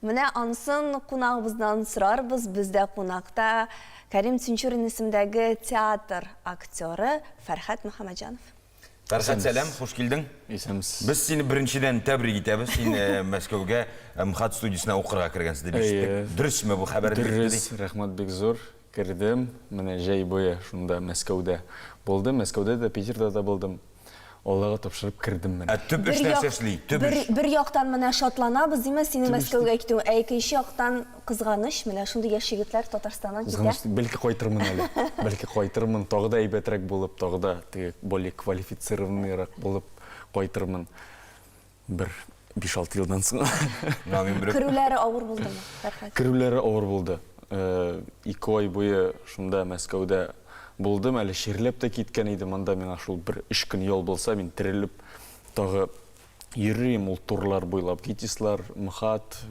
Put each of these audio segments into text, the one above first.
Менә ансын кунагыбыздан сорарбыз, бездә кунакта Кәрим Тинчурин исемдәге театр актеры Фәрхәт Мөхәммәтҗанов. Фәрхәт, сәлам, хуш килдең. Исәнмесез. Без сине беренчедән тәбрик итәбез. Син э, Мәскәүгә э, МХАТ студиясенә укырга кергәнсең дип ишеттек. Дөресме бу хәбәр? Дөрес, рәхмәт бик зур. Кердем, менә җәй буе шунда Мәскәүдә булдым. Мәскәүдә дә, Питерда да булдым. Аллага тапшырып кердем менә. Ә төп эш нәрсә эшли? Төп бер, эш. Бер яктан менә шатланабыз, димә, синең Мәскәүгә китү, ә икенче яктан кызганыч, менә шундый яшь егетләр Татарстаннан китә. Кызганыч, бәлки кайтырмын әле. Бәлки кайтырмын, тагы да әйбәтрәк булып, тагы да теге более квалифицированныйрак булып кайтырмын. Бер биш-алты елдан соң. Керүләре авыр булдымы, Фәрхәт? Керүләре авыр булды. Ике ай буе шунда, Мәскәүдә булдым. Әле чирләп тә киткән идем. Монда миңа шул бер өч көн ял булса, мин терелеп тагы йөрер идем. Ул турлар буйлап, ГИТИСлар, МХАТ,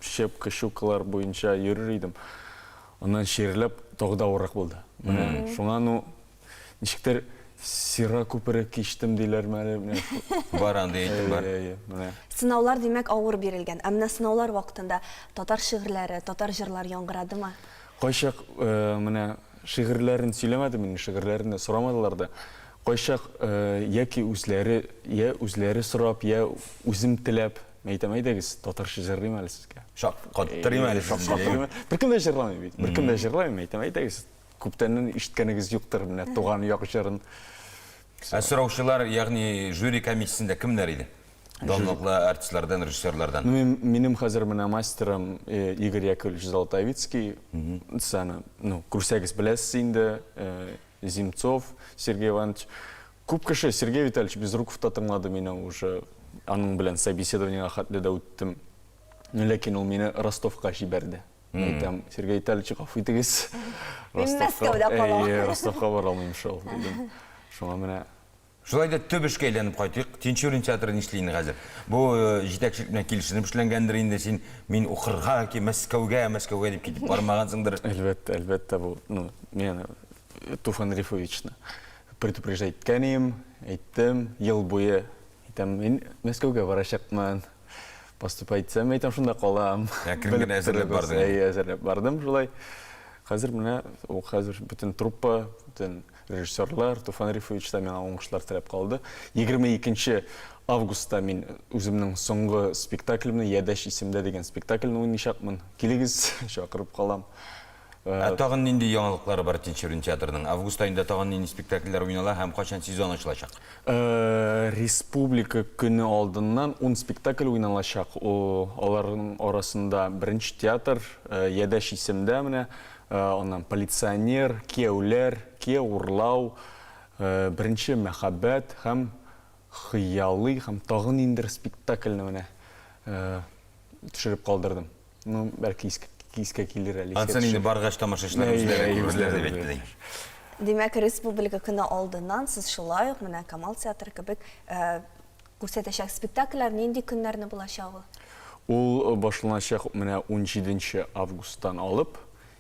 щепка, щукалар буенча йөрер идем. Аннан чирләп, тагы да авыррак булды. Менә шуңа ну, Ничектер Сера күпере кичтем диләрме әле менә. Бар андый әйтем бар. Әйе, менә. Сынаулар, димәк, авыр бирелгән. Ә менә сынаулар вакытында татар шигырьләре, татар җырлар яңгырадымы? Кайчак менә шигырьләрен сөйләмәдем инде, шигырьләрен дә сорамадылар да. Кайчак яки үзләре, я үзләре сорап, я үзем теләп әйтәм, әйдәгез, татарча җырлыйм әле сезгә. Шаккаттырыйм әле сезне. Беркем дә җырламый бит. Беркем дә җырламый, әйтәм, әйдәгез, Күптәннән ишеткәнегез юктыр менә Туган як җырын. Ә сораучылар, ягъни жюри комиссиясендә кемнәр иде? Данлыклы артистлардан, режиссерлардан. Ну, мин, минем хәзер менә мастерым э, Игорь Яковлевич Золотовицкий. Саны, ну, күрсәгез беләсез инде, э, Земцов Сергей Иванович. Күп кеше Сергей Витальевич Безруков та тыңлады мине уже. Аның белән собеседованиега хәтле дә үттем. Ләкин ул мине Ростовка җибәрде. Мм. Әйтәм, Сергей Витальевич, гафу итегез. Мин Ростовка- Мәскәүдә калам. Әйе, Ростовка бара алмыйм шул, дидем. Шуңа менә Шулай да төп эшкә әйләнеп кайтыйк. Тинчурин театры нишли инде хәзер? Бу э, җитәкчелек белән килешенеп эшләнгәндер инде. Син мин укырга яки Мәскәүгә, Мәскәүгә дип китеп бармагансыңдыр. Әлбәттә, әлбәттә бу, ну, мин э, Туфан Рифовичны предупреждать иткән идем, әйттем, ел буе әйтәм, мин Мәскәүгә барачакмын, Поступать итсәм, әйтәм, шунда калам. Ә керем генә әзерләп бардың. Әйе, әзерләп бардым шулай. Хәзер менә ул хәзер бөтен труппа, бөтен режиссерлар, Туфан Рифович та миңа уңышлар теләп калды. 22 августта мин үземнең соңгы спектаклемне, Ядәш исемдә дигән спектакльне уйнашакмын. Килегез, чакырып калам. Ә тагын нинди яңалыклары бар Тинчурин театрының? Август аенда тагын нинди спектакльләр уйнала һәм кайчан сезон ачылачак? Республика көне алдыннан ун спектакль уйналачак. Аларның арасында Беренче театр, Ядәш исемдә менә, аннан Полиционер, Кияүләр, Кияү урлау, Беренче мәхәббәт һәм Хыялый һәм тагын ниндидер спектакльне менә төшереп калдырдым. Ну, бәлки иск- искә килер әле. искә Ансын инде төшер. баргач тамашачылар Әйе, үзләре әйе, күрерләр үзләре дип әйттеләр. әйттеләр. Димәк, республика көне алдыннан сез шулай ук менә Камал театры кебек э, күрсәтәчәк спектакльләр нинди көннәрне булачак ул? Ул башланачак менә 17 августтан алып,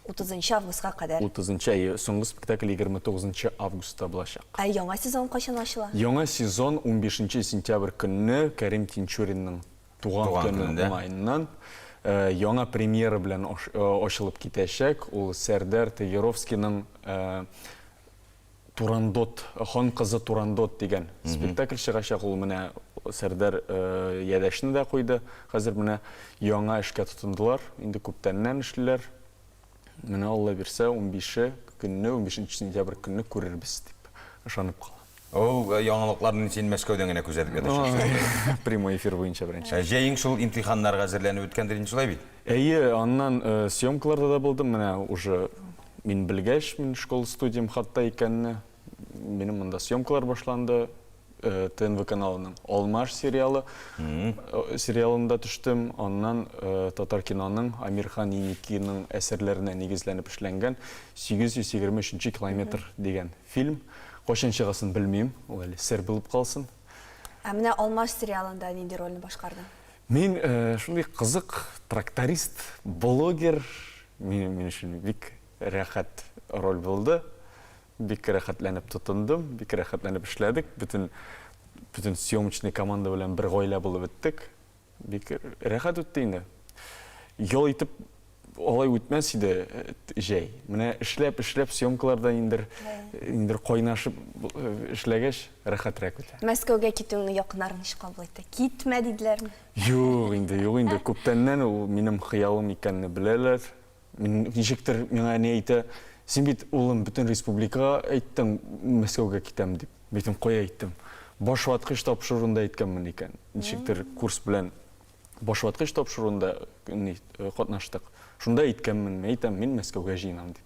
30 августка кадәр. 30 әйе, соңгы спектакль 29 августта булачак. Ә яңа сезон кайчан ачыла? Яңа сезон 15 сентябрь көнне Кәрим Тинчуринның Туган көне уңаеннан яңа премьера белән ачылып китәчәк. Ул Сәрдәр Тыеровскийның Турандот, хан кызы Турандот дигән спектакль чыгачак. Ул менә Сәрдәр Ядәшне дә куйды. Хәзер менә яңа эшкә тотындылар. Инде күптәннән эшлиләр. Менә Алла бирсә, унбише көнне, унбишенче сентябрь көнне күрербез, дип ышанып калам. Ул яңалыкларны син Мәскәүдән генә күзәтеп ятырсың шикелле. Прямой эфир буенча беренче. Ә җәең шул имтиханнарга әзерләнеп үткәндер инде, шулай бит? Әйе, аннан съемкаларда да булдым, менә уже мин белгәч, мин школ-студиям хатта икәнне, Минем монда съемкалар башланды. Э, ТНВ каналының Алмаш сериалы э, сериалында төштем. Аннан э, татар киноның Амирхан Еникиның әсәрләренә нигезләнеп эшләнгән 823 километр дигән фильм. Кайчан чыгасын белмим, ул әле сер булып калсын. Ә менә Алмаш сериалында нинди рольне башкарды? Мин шундый кызык тракторист, блогер, мин мин өчен бик Рәхәт роль булды. Бик рәхәтләнеп тотындым, бик рәхәтләнеп эшләдек. Бөтен бөтен съемочный команда белән бер гаилә булып беттек. Бик рәхәт үтте инде. Ял итеп алай үтмәс иде җәй. Менә эшләп, эшләп съемкаларда индер индер кайнашып эшләгәч, рәхәтрәк үтә. Мәскәүгә китүеңне якыннар ничек кабул итте? Китмә диделәрме? Юк инде, юк инде. Күптәннән ул минем хыялым икәнне беләләр. Ничектер миңа әни әйтә, Син бит, улым, бөтен республикага әйттең, Мәскәүгә китәм дип. Мин әйттем, Кая әйттем? Баш ваткыч тапшыруында әйткәнмен икән. Ничектер курс белән баш ваткыч тапшыруында катнаштык. Шунда әйткәнмен, мин әйтәм, мин Мәскәүгә җыенам дип.